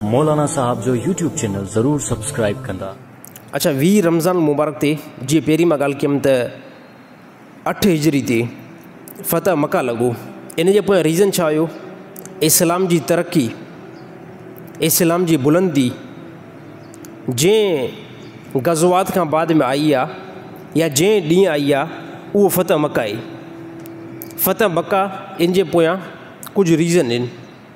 مولانا صاحب جو YouTube channel ضرور سبسڪرائيب ڪندا. اچا ويهه رمضان المبارڪ تي جيئن پهرين مان ڳالهه ڪيم ته اٺ هجري تي فتح مڪه لڳو ان جي پويان ريزن ڇا هيو اسلام جي ترقي اسلام جي بلندي جنهن غزوات کان بعد ۾ آئي آ يا جنهن ڏينهن آئي آ اهو فتح مڪه آهي فتح مڪه ان جي پويان ڪجهه ريزن ان.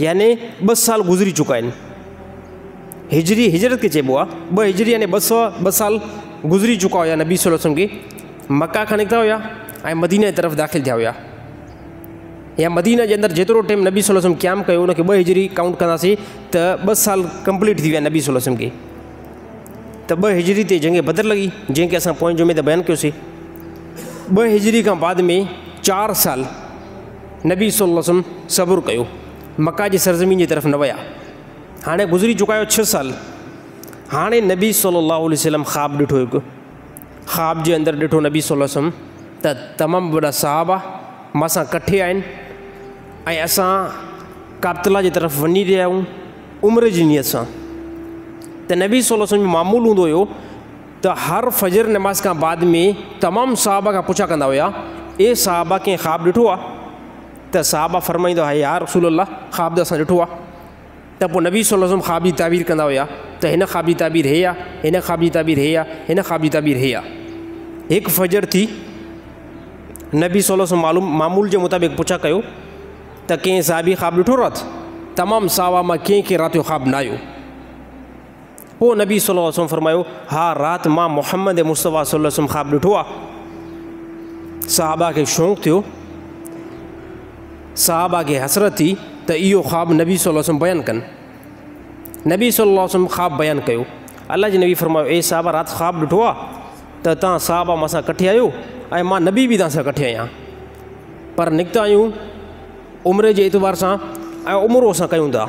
يعني ٻه سال گذري چڪا آهن. هجري هجرت کي چئبو آهي ٻه هجري يعني ٻه سو ٻه سال گذري چڪا هيا نبي صلي وسلم کي مڪه کان نڪتا هيا ۽ مدينه جي طرف داخل ٿيا هيا يا مدينه جي اندر جيترو ٽيم نبي صلي وسلم قيام ڪيو ان کي ٻه هجري ڪائونٽ ڪنداسي ته ٻه سال ڪمپليٽ ٿي ويا نبي صلي وسلم کي ته ٻه هجري تي جنگ بدر لڳي جنهن کي اسان پوئين جمعي ته بيان ڪيوسي ٻه هجري کان بعد ۾ چار سال نبي صلعم وسلم صبر ڪيو، مڪه جي سرزمين جي طرف نه ويا. هاڻي گذري چڪا هيا ڇهه سال. هاڻي نبي صلي الله عليه وسلم خواب ڏٺو هڪ. خواب جي اندر ڏٺو نبي صلي الله عليه وسلم ته تمام وڏا صحابه مان سان ڪٺي آهن ۽ اسان ڪابتالله جي طرف وڃي رهيا آهيون عمري جي نيت سان. ته نبي صلي الله عليه وسلم جو معمول هوندو هيو. ته هر فجر نماز کان بعد ۾ تمام صحابه کان پڇا ڪندا هيا، اي صحابه ڪنهن خواب ڏٺو آ؟ ته صحابه فرمائيندا هيا يا رسول الله خواب ته اسان ڏٺو آ. ته پوء نبي صلي الله عليه وسلم خواب جي تعبير ڪندا هيا ته هن خواب جي تعبير هي آ، هن خواب جي تعبير هي آ، هن خواب جي تعبير هي آ. هڪ فجر ٿي نبي صلي الله عليه وسلم معمول جي مطابق پڇا ڪيو ته ڪنهن صحابي خواب ڏٺو رات؟ تمام صحابه مان ڪنهن کي رات جو خواب نه آيو. پوء نبي صلّي اللّٰه عليه وسلّم فرمايو، ها رات مان محمّد مصطفٰي صلّي اللّٰه عليه وسلّم خواب ڏٺو آهي. صحابه کي شوق ٿيو. صحابه کي حسرت ٿي ته اهو خواب نبي صلّي اللّٰه عليه وسلّم بيان ڪن. نبي صلّي اللّٰه عليه وسلّم خواب بيان ڪيو. الله جي نبي فرمايو، اي صحابه رات خواب ڏٺو آهي ته توهان صحابه مون سان ڪٺي آهيو ۽ مان نبي به توهان سان ڪٺي آهيان. پر نڪتا آهيون عمر جي اعتبار سان ۽ عمر اسان ڪيون ٿا.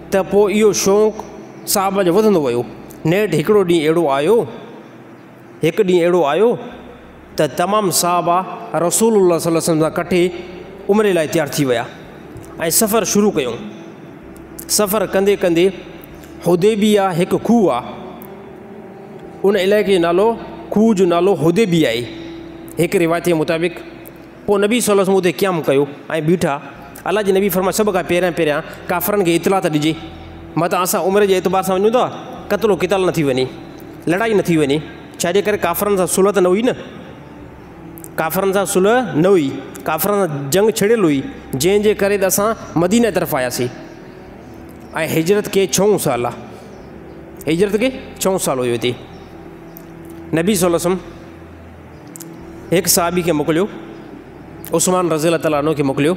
ته پوء اهو شوق صاحب جو وڌندو ويو. نيٺ هڪڙو ڏينهن اهڙو آيو، هڪ ڏينهن اهڙو آيو ته تمام صحابه رسول الله صلي الله عليه وسلم سان ڪٺي عمري لاء تيار ٿي ويا ۽ سفر شروع ڪيو. سفر ڪندي ڪندي حديبيه هڪ کوهه آ، ان علائقي جو نالو کوهه جو نالو حديبيه آهي. هڪ روايت جي مطابق، پوء نبي صلّي اللّٰه عليه وسلّم اتي قيام ڪيو ۽ بيٺا، الله جي نبي فرمايو، سڀ کان پهريان پهريان ڪافرن کي اطلاع ته ڏجي، متان اسان عمري جي اعتبار سان وڃون ٿا، قتل و قتال نه ٿي وڃي، لڙائي نه ٿي وڃي، ڇا جي ڪري ڪافرن سان صلح ته نه هئي نه، ڪافرن سان صلح نه هئي، ڪافرن سان جنگ ڇڙيل هئي، جنهن جي ڪري ته اسان مديني طرف آياسين ۽ هجرت کي ڇهون سال آ، هجرت کي ڇهون سال هيو هتي، نبي صلّي اللّٰه عليه وسلّم. هڪ صحابي کي موڪليو، عثمان رضي الله تعالٰي عنه کي موڪليو،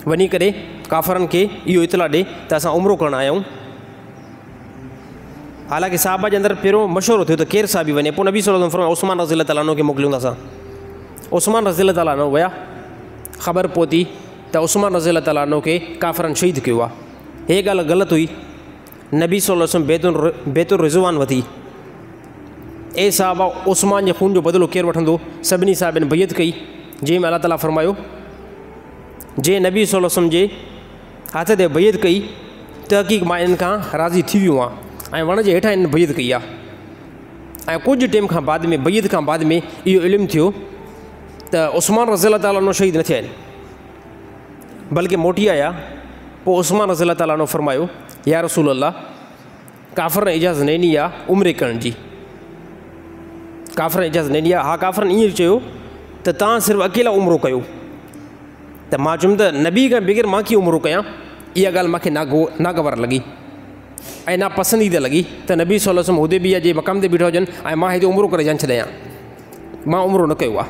وڃي ڪري ڪافرن کي اهو اطلاع ڏي ته اسان عمرو ڪرڻ آيا آهيون. حالانڪه صحابه جي اندر پهريون مشورو ٿيو ته ڪير صحابي وڃي، پوء نبي صلّي الله عليه وسلّم فرمايو عثمان رضي الله تعالٰي عنه کي موڪليون ٿا اسان. عثمان رضي الله تعالٰي عنه ويا، خبر پهتي ته عثمان رضي الله تعالٰي عنه کي ڪافرن شهيد ڪيو آهي. هيء ڳالهه غلط هئي. نبي صلي الله عليه وسلم بيت بيت الرضوان وتي، اي صحابه عثمان جي خون جو بدلو ڪير وٺندو؟ سڀني صحابين بيعت ڪئي، جنهن ۾ الله تعاليٰ فرمايو، جنهن نبي صلي الله عليه وسلم جي هٿ تي بيعت ڪئي، تحقيق مان انهن کان راضي ٿي ويو آهيان ۽ وڻ جي هيٺان انهن بيعت ڪئي آهي ۽ ڪجهه ٽيم کان بعد ۾ بيعت کان بعد ۾ اهو علم ٿيو ته عثمان رضي الله تعالٰي عنه شهيد نه ٿيا آهن. بلڪه موٽي آيا، پوء عثمان رضي الله تعالٰي عنه فرمايو، يا رسول الله! ڪافرن اجازت نه ڏني آهي عمري ڪرڻ جي. ڪافرن اجازت نه ڏني آهي. ها ڪافرن ائين چيو ته توهان صرف اڪيلا عمرو ڪيو. ته مان چيم ته نبي کان بغير مان ڪيئن عمرو ڪيان؟ اها ڳالهه مون کي ناگوار لڳي ۽ ناپسنديده لڳي ته نبي صلّي اللّٰه عليه وسلّم حديبيه جي مقام تي بيٺا هجن ۽ مان هتي عمرو ڪري جان ڇڏيان. مان عمرو نه ڪيو آهي.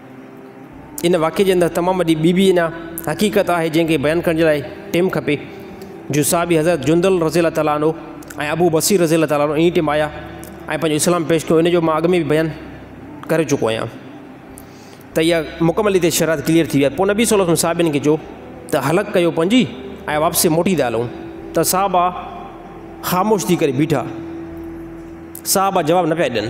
ان واقعي جي اندر تمام وڏي ٻي به انا حقيقت آهي جنهن کي بيان ڪرڻ جي لاء ٽيم کپي جو صحابي حضرت جندل رضي الله تعالٰي عنه ۽ ابو بصير رضي الله تعالٰي عنه انهي ٽيم آيا ۽ پنهنجو اسلام پيش ڪيو ان جو مان اڳ ۾ به بيان ڪري چڪو آهيان ته اها مڪمل هتي شرائط ڪليئر ٿي ويا پوء نبي صلي الله علیه وسلم صحابين کي چيو ته حلق ڪيو پنهنجي ۽ واپسي موٽي ٿا هلون ته صحابا خاموش ٿي ڪري بيٺا صحابا جواب نه پيا ڏين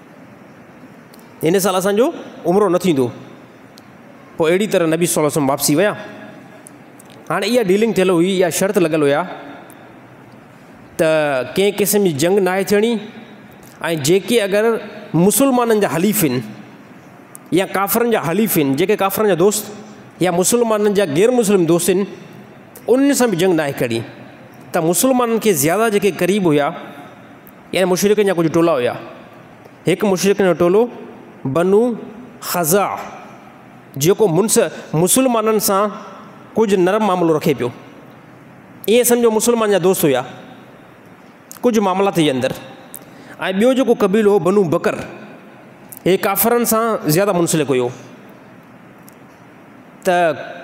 هن سال اسان جو عمرو نه ٿيندو. پوء اهڙي طرح نبي صلي الله عليه وسلم واپسي ويا. هاڻ اها ڊيلنگ ٿيل هئي، اها شرط لڳل هيا ته ڪنهن قسم جي جنگ ناهي ٿيڻي ۽ جيڪي اگر مسلمانن جا حليف هن يا ڪافرن جا حليف هن، جيڪي ڪافرن جا دوست يا مسلمانن جا غير مسلم دوست هن، انهن سان به جنگ ناهي ڪرڻي. ته مسلمانن کي زياده جيڪي قريب هيا، يعني مشرڪن جا ڪجهه ٽولا هيا. هڪ مشرڪن جو ٽولو بنو خزاع جيڪو منس مسلمانن سان ڪجهه نرم معاملو رکي پيو. ائين سمجهو مسلمان جا دوست هيا. ڪجهه معاملات جي اندر ۽ ٻيو جيڪو قبيلو هو بنو بڪر هي ڪافرن سان زياده منسلڪ هيو. ته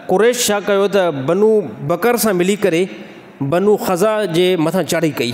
قريش ڇا ڪيو ته بنو بڪر سان ملي ڪري بنو خزاع جي مٿان چڙهي ڪئي.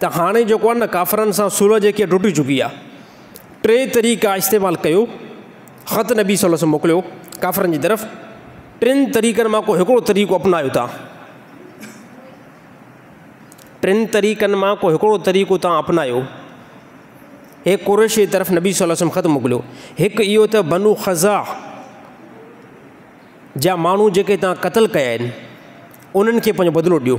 ته هاڻي جيڪو آهي نه ڪافرن سان صلح جيڪي ٽٽي چڪي آهي ٽي طريقا استعمال ڪيو خط نبي صلي الله عليه وسلم موڪليو ڪافرن جي طرف ٽن طريقن مان ڪو هڪڙو طريقو اپنايو تان ٽن طريقن مان ڪو هڪڙو طريقو تان اپنايو هي قريش جي طرف نبي صلي الله عليه وسلم خط موڪليو هڪ اهو ته بنو خزا جا ماڻهو جيڪي تان قتل ڪيا آهن انهن کي پنهنجو بدلو ڏيو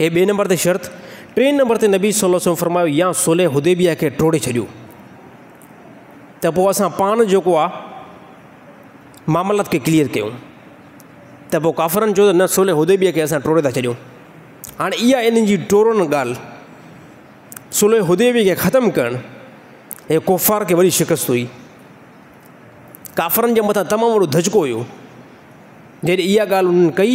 هي ٻئي نمبر تي شرط، ٽئين نمبر تي نبي صلي الله عليه وسلم فرمايو يا صلح حديبيه کي ٽوڙي ڇڏيو ته پوء اسان پاڻ جيڪو آ معاملات کي ڪليئر ڪيون ته پوء ڪافرن چيو ته نه صلح حديبيه کي اسان ٽوڙي ٿا ڇڏيون هاڻي اها انهن جي ٽوڙڻ ڳالهه صلح حديبيه کي ختم ڪرڻ هي ڪفار کي وڏي شڪست هئي ڪافرن جي مٿان تمام وڏو ڌچڪو هيو جڏهن اها ڳالهه انهن ڪئي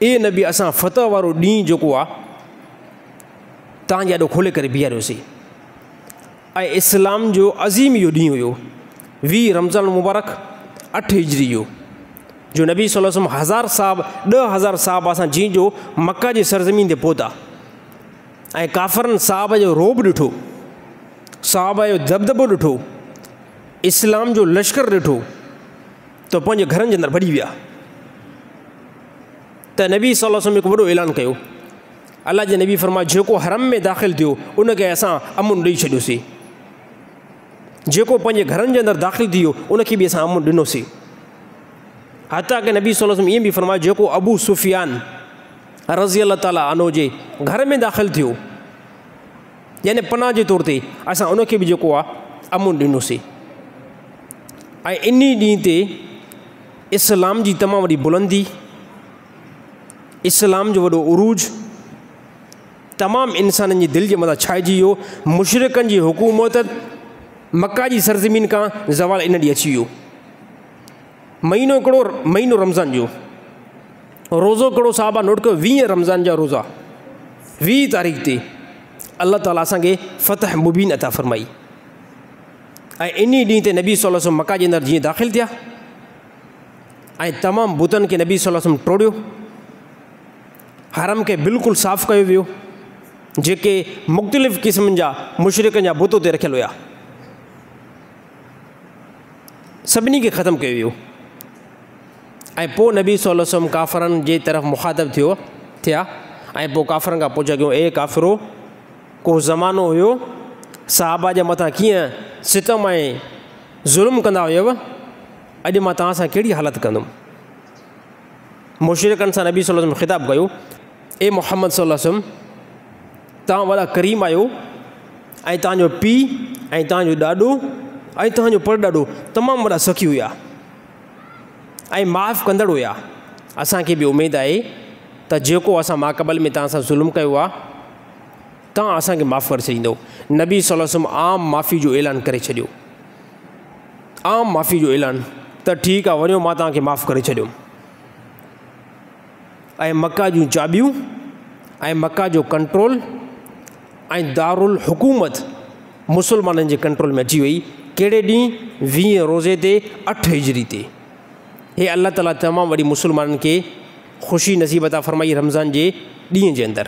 اي نبي! اسان فتح وارو ڏينهن جيڪو آهي توهان جي آڏو کولي ڪري بيهاريوسين ۽ اسلام جو عظيم اهو ڏينهن هيو ويهه رمضان المبارڪ اٺ هجري جو جو نبي صلي الله عليه وسلم هزار صاحب ڏهه هزار صاحب اسان جنهن جو مڪه جي سرزمين تي پهتا ۽ ڪافرن صاحب جو روب ڏٺو صاحب جو دبدبو ڏٺو اسلام جو لشڪر ڏٺو ته پنهنجي گهرن جي اندر ڀڄي ويا ته نبي صلي الله علیه وسلم هڪ وڏو اعلان ڪيو الله جي نبي فرمايو جيڪو حرم ۾ داخل ٿيو ان کي اسان امن ڏئي ڇڏيوسي جيڪو پنهنجي گهرن جي اندر داخل ٿي ويو ان کي به اسان امن ڏنوسي حتيٰ ڪي نبي صلي الله ائين به فرمايو جيڪو ابو سفيان رضي الله تعالیٰ عنو جي گهر ۾ داخل ٿيو يعني پناهه جي طور تي اسان ان کي به جيڪو آهي امن ڏنوسين ۽ انهي ڏينهن تي اسلام جي تمام وڏي بلندي اسلام جو وڏو عروج تمام انسانن جي دل جي مٿان ڇائجي ويو مشرقن جي حڪومت مکا جي سرزمين کان زوال ان ڏينهن اچي ويو مهينو هڪڙو مهينو رمضان جو روزو ڪھڙو صاحب آ نوٽ ڪيو ويهه رمضان جا روزا ويهه تاريخ تي الله تعالي اسان کي فتح مبين عطا فرمائي ۽ انهي ڏينهن تي نبي صلي وسلم مکا جي اندر جيئن داخل ٿيا ۽ تمام بتن کي نبي صلي وسلم ٽوڙيو حرم کي بلڪل صاف ڪيو ويو جيڪي مختلف قسمن جا مشرقن جا بت اتي رکيل هيا سڀني کي ختم ڪيو ويو ۽ پوء نبي صلّي اللّٰه عليه وسلّم ڪافرن جي طرف مخاطب ٿيو ٿيا ۽ پوء ڪافرن کان پڇا ڪيون، اي ڪافرو! ڪو زمانو هيو صحابه جي مٿان ڪيئن ستم ۽ ظلم ڪندا هيؤ، اڄ مان توهان سان ڪهڙي حالت ڪندم؟ مشرڪن سان نبي صلّي اللّٰه عليه وسلّم خطاب ڪيو، اي محمد صلّي اللّٰه عليه وسلّم! توهان وڏا ڪريم آهيو ۽ توهان جو پيء ۽ توهان جو ڏاڏو ۽ توهان جو پڙڏاڏو تمام وڏا سخي هيا. ۽ معاف ڪندڙ هيا. اسان کي به اميد آهي ته جيڪو اسان ماقبل ۾ توهان سان ظلم ڪيو آهي، توهان اسان کي معاف ڪري ڇڏيندؤ. نبي صلي الله عليه وسلم عام معافي جو اعلان ڪري ڇڏيو. عام معافي جو اعلان، ته ٺيڪ آهي وڃو مان توهان کي معاف ڪري ڇڏيم. ۽ مڪه جون چاٻيون ۽ مڪه جو ڪنٽرول ۽ دارالحڪومت مسلمانن جي ڪنٽرول ۾ اچي وئي، ڪهڙي ڏينهن؟ ويهين روزي تي اٺ هجري تي. هي الله تعاليٰ تمام وڏي مسلمانن کي خوشي نصيب عطا فرمائي رمضان جي ڏينهن جي اندر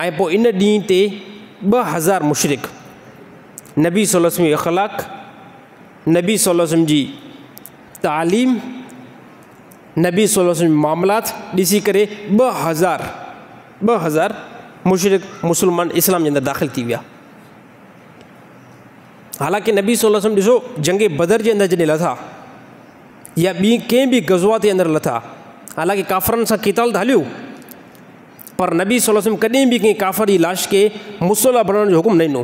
۽ پوء ان ڏينهن تي ٻه هزار مشرڪ نبي صلي الله عليه وسلم جي اخلاق، نبي صلي الله عليه وسلم جي تعليم، نبي صلي الله عليه وسلم جا معاملات ڏسي ڪري ٻه هزار ٻه هزار مشرڪ مسلمان اسلام جي اندر داخل ٿي ويا. حالانڪه نبي صلي الله عليه وسلم ڏسو جنگ بدر جي اندر جڏهن لٿا يا ٻي ڪنهن به غزوات جي اندر لٿا حالانڪه ڪافرن سان قتال ته هليو پر نبي صلي الله عليه وسلم ڪڏهن به ڪنهن ڪافر جي لاش کي مصلح بڻائڻ جو حڪم نه ڏنو.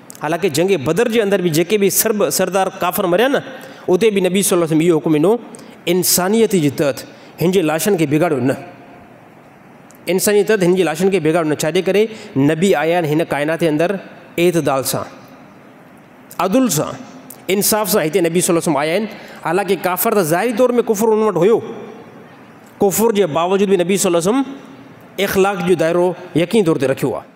حالانڪه جنگ بدر جي اندر به جيڪي به سرب سردار ڪافر مريا نه اتي به نبي صلي الله عليه وسلم اهو حڪم ڏنو انسانيت جي تحت هن جي لاشن کي بگاڙيو نه انسانيت تحت هن جي لاشن کي بگاڙيو نه ڇا جي ڪري نبي آيا آهن هن ڪائنات جي اندر اعتدال سان عدل سان انصاف سان هتي نبي صلي الله عليه وسلم آيا آهن حالانڪه ڪافر ته ظاهري طور ۾ ڪفر ان وٽ هيو ڪفر جي باوجود به نبي صلي الله عليه وسلم اخلاق جو دائرو يقين طور تي رکيو آهي